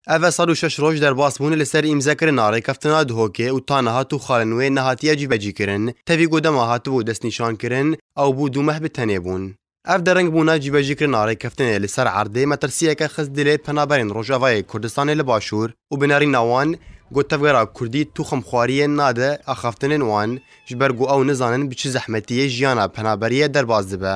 Ev e sed û şeş roj derbasbûn li ser îmzekirina rêkeftina Dihokê û ta niha tu xalên wê nehatiye cîbecîkirin. Tevî ku dema hatibû destnîşankirin ew bû du meh bi tenê bûn. Ev deringbûna cîbecîkirina rêkeftinê li ser erdê metirsiyeke xist dilê penaberên Rojavayê Kurdistanê li Başûr û bi nerîna wan got tevgera Kurdî tuxumxwariyê nade axaftinên wan ji ber ku ew nizanin bi çi zehmetiyê jiyana penaberiyê derbas dibe.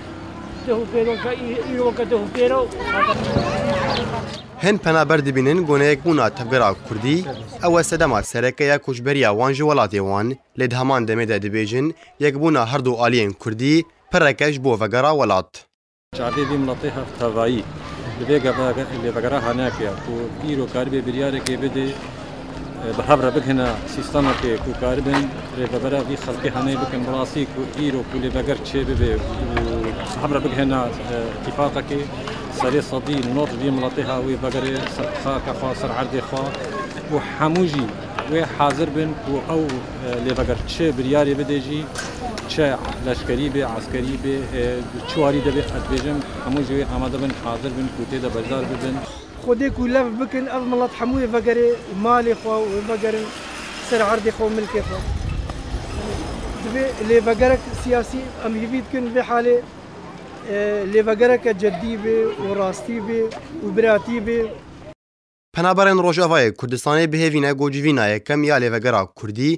Hin penaber dibînin goneyek bûna tevgera kurdî, ew e sedema sereke ya koçberiya wan ji welatê wan, lê di heman demê de dibêjin yekbûna her du aliyên kurdî pirek e ji bo vegera welat. Çavê vê miletê hev tevayî li vê vegera hanake ye ku îro karîbê biryareke bide, bi hev re bigihne sîstemekê ku karibin rêvebera vî xelkê henê bikin bi rastî ku îro ku lê veger çê bibe û bi hev re bigihne îtîfaqekê serê sedî nod vî miletê ha wê vegerê ser qisake xwe ser erdê xwe û hemû jî wê hezir bin ku ew lê veger çi biryarê bide jî çe leşkerî bê eskerî bê çi warî de bê ez dibêjim hemû jî wê amade bin hezir bin ku tê de beşdar bibin. Xwedê ku lev bikin ev milet hemû yê vegerê malê xwe û vegerin ser erdê xwe û milkê xwe. Divê lê vegerek siyasî em hêvî dikin vê halê lê vegereke ceddî bê û rastî bê û biratî bê. Penaberên Rojavayê Kurdistanê bihêvîne ku civîna yekem ya lêvegera Kurdî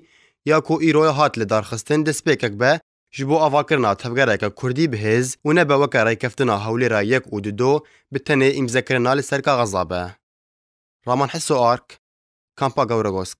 ya ku îro hat lidarxistin destpêkek be, Ji bo avakirina tevgereke kurdî bi hêz û nebe weke rêkeftina Hewlêra yek û du do bi tenê îmzekirina li ser kaxiza be. Raman Hiso Ark, Kampa Gewregosk.